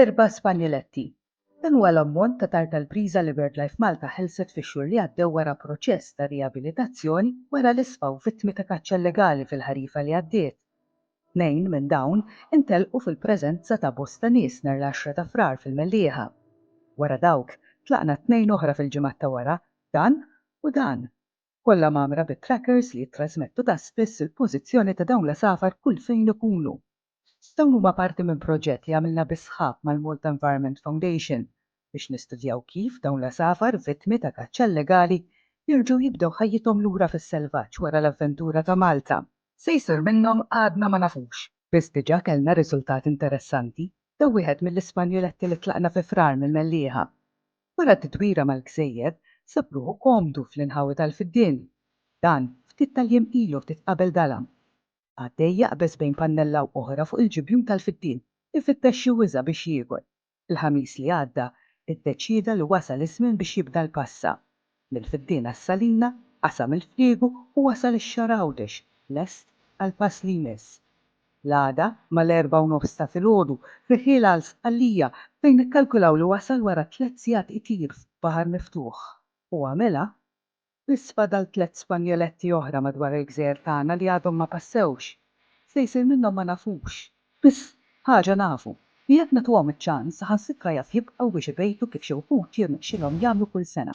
Erba' Spanjoletti. Dan huwa l-ammont ta' tarf tal-priża li BirdLife Malta ħelset fix-xhur li għaddew wara proċess ta' riabilitazzjoni wara li sfaw vittmi ta' kaċċa illegali fil-ħarifa li għaddiet. Tnejn minn dawn intelqu fil-preżenza ta' bosta nies nhar l-għaxra ta' Frar fil-Mellieħa. Wara dawk, tlaqna tnejn oħra fil-ġimgħat ta' wara, dan u dan. Kollha mgħammra bi trackers li jittrażmettu ta' spiss il-pożizzjoni ta' dawn l-għasafar kull fejn ikunu. Dawn huma parti minn proġett li għamilna bis-sħab mal-Malta Environment Foundation biex nistudjaw kif dawn l-għasafar vittmi ta' kaċċa illegali jerġgħu jibdew ħajjithom lura fis-selvaġġ wara l-avventura ta' Malta. Se jsir minnhom għadna ma nafux. Biss diġà kellna riżultat interessanti, daw wieħed mill-Ispanjuletti li tlaqna fi Frar mill-Mellieħa. Wara titwira mal-gżejjer, sab ruħu komdu fl-inħawi tal-fiddien. Dan, ftit tal-jiem ilu ftit qabel dalam. Għaddej jaqbeż bejn pannella u oħra fuq il-ġibjun tal-fittien, ifittex xi wiża biex jiekol. Il-Ħamis li għadda, iddeċieda li wasal iż-żmien biex jibda l-passa. Mill-fittien għas-salina, qasam il-friegu u wasal ix-xahar Għawdex, lest għall-pass li jmiss. L-għada, mal-erbgħa u nofs ta' filgħodu, rieħiel għal Sqallija, fejn ikkalkulaw li wasal wara tliet sigħat itir f'baħar miftuħ. U għamilha. Biss fadal tliet spanjoletti oħra madwar il-gżejjer tagħna li għadhom ma passewx. X'se jsir minnhom ma nafux. Biss ħaġa nafu, li jekk nagħtuhom iċ-ċans, saħansitra jaf jibqgħu biex ibejtu kif xi wħud jirnexxilhom jagħmlu kull sena.